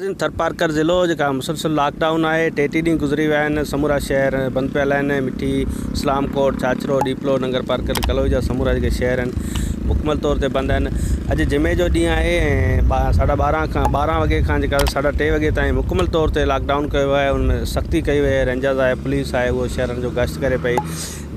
ناظرين ٿرپارڪر ضلعو جيڪا مسلسل لاڪ ڊائون آهي ٽي ٽي ڏينهن گذري ويا آهن سمورا شهر بند پيل آهن مٺي اسلام ڪوٽ ڇاڇرو ڏيپلو ننگر پارڪر ڪلوئي جا سمورا جيڪي شهر آهن مڪمل طور تي بند آهن اڄ جمعي جو ڏينهن آهي ۽ ساڍا ٻارهن کان ٻارهن وڳي کان جيڪا ساڍا ٽي وڳي تائين مڪمل طور تي لاڪ ڊائون ڪيو ويو آهي ان ۾ سختي ڪئي وئي آهي رينجرز آهي پوليس آهي اهو شهرن جو گشت ڪري پئي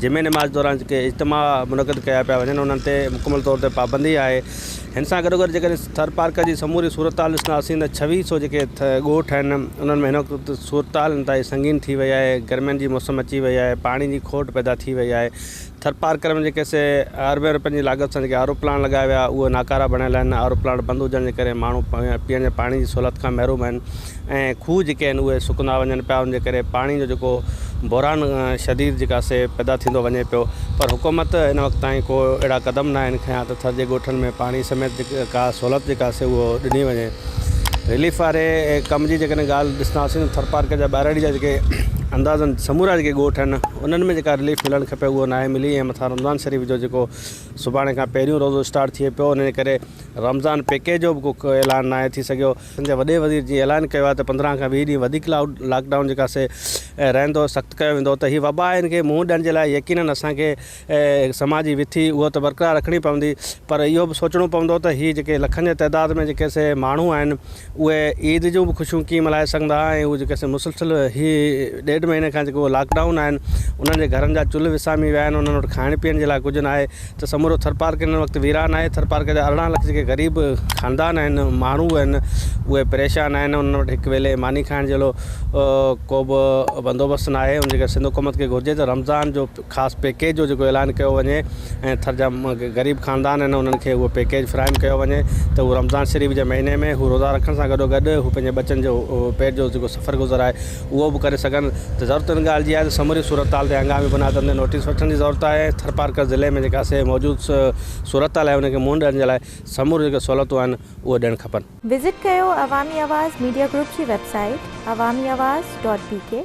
جمعي نماز دوران جيڪي اجتماع منعقد ڪيا پيا وڃن انهن تي مڪمل طور تي پابندي آهي هن سان گڏوگڏ جيڪڏهن ٿر پارڪر جي سموري صورتحال ڏسنداسين ته ڇويھ سو جيڪي ڳوٺ آهن انهن ۾ هن وقت صورتحال انتهائي سنگين ٿي وئي آهي گرمين جي موسم اچي وئي آهي پاڻي جي کوٽ پيدا ٿي وئي آهي ٿر پارڪر ۾ جيڪي سي اربين رپين جي لاڳت سان جيڪي آر او پلانٽ لڳايا ويا اهي ناڪارا بڻيل آهن آر او پلانٽ بند هجڻ جي ڪري ماڻهو پيئڻ جي پاڻي جي سهولت کان محروم آهن ۽ کوهه جيڪي آهن اهي سڪندا وڃن پيا ان جي ڪري پاڻي جو جيڪو بحران شديد جيڪا سي پيدا ٿيندو وڃي پيو پر حڪومت ان وقت تائين ڪو اهڙا قدم نه آهن کيا ته ٿر جي ڳوٺن ۾ پاڻي سميت جيڪي ڪا سهولت جيڪا سي اهو ڏني وڃي رليف واري ڪم جي جيڪڏهن ڳالهه ڏسنداسين ته ٿر پارڪر جا ٻهراڙي جا جيڪي اندازن سمورا جيڪي ڳوٺ آهن انهن ۾ جيڪا رليف ملڻ کپي اهو نه آهي ملي ۽ مٿان رمضان شريف جو جيڪو سڀاڻي کان پهريون روزو اسٽارٽ ٿئي پيو ان جي ڪري رمضان پيڪيج جو به ڪو اعلان نه آهي ٿي سگهيو سنڌ جي وڏي وزير جي اعلان ڪيو آهي ته پندرهن کان ويهه ڏينهن وڌيڪ لاڪ ڊائون جيڪا سي رهندو سخت ڪيو ويندو ته هي وبا آهي ان کي منهن ڏيڻ جي لاء يقينن اسان کي سماجي وٿي اهو ته برقرار رکڻي پوندي پر اهو به سوچڻو پوندو ته هي جيڪي لکن جي تعداد ۾ جيڪي سي ماڻهو آهن اهي عيد جون به خوشيون ڪيئن ملهائي سگهندا ۽ اهو جيڪي سي مسلسل هي ڏيڍ مهيني کان جيڪو لاڪ ڊائون آهن انهن جي گهرن جا چلهه وسامي ويا آهن انهن وٽ کائڻ پيئڻ جي لاء ڪجهه ناهي ته سمورو ٿرپارڪر هن وقت ويران آهي، ٿرپارڪر جا ارڙهن لک جيڪي غريب خاندان آهن، ماڻهو آهن، اهي پريشان آهن، انهن وٽ هڪ ويلي ماني کائڻ جهڙو ڪوبه بندوبست ناهي، ان جي ڪري سنڌ حڪومت کي گهرجي ته رمضان جو خاص پيڪيج جو جيڪو اعلان ڪيو وڃي ۽ ٿر جا غريب خاندان آهن انهن کي اهو پيڪيج فراهم ڪيو وڃي ته هو رمضان شريف جي مهيني ۾ هو روزا رکڻ سان گڏوگڏ هو پنهنجي ٻچن جو پيٽ جو جيڪو سفر گذر آهي اهو به ڪري سگهن ته ضرورت ان ڳالهه جي آهي ته سموري صورتحال تي هنگامي بنياد تي نوٽيس وٺڻ جي ضرورت آهي ۽ ٿرپارڪر ضلعي ۾ جيڪا سي موجود صورتحال آهي ان کي منهن ڏيڻ جي لاء سموريون جيڪي سهولتون آهن اهي ڏيڻ کپن. وزٽ ڪيو عوامي آواز ميڊيا گروپ جي website Awami Awaz dot بي ڪي.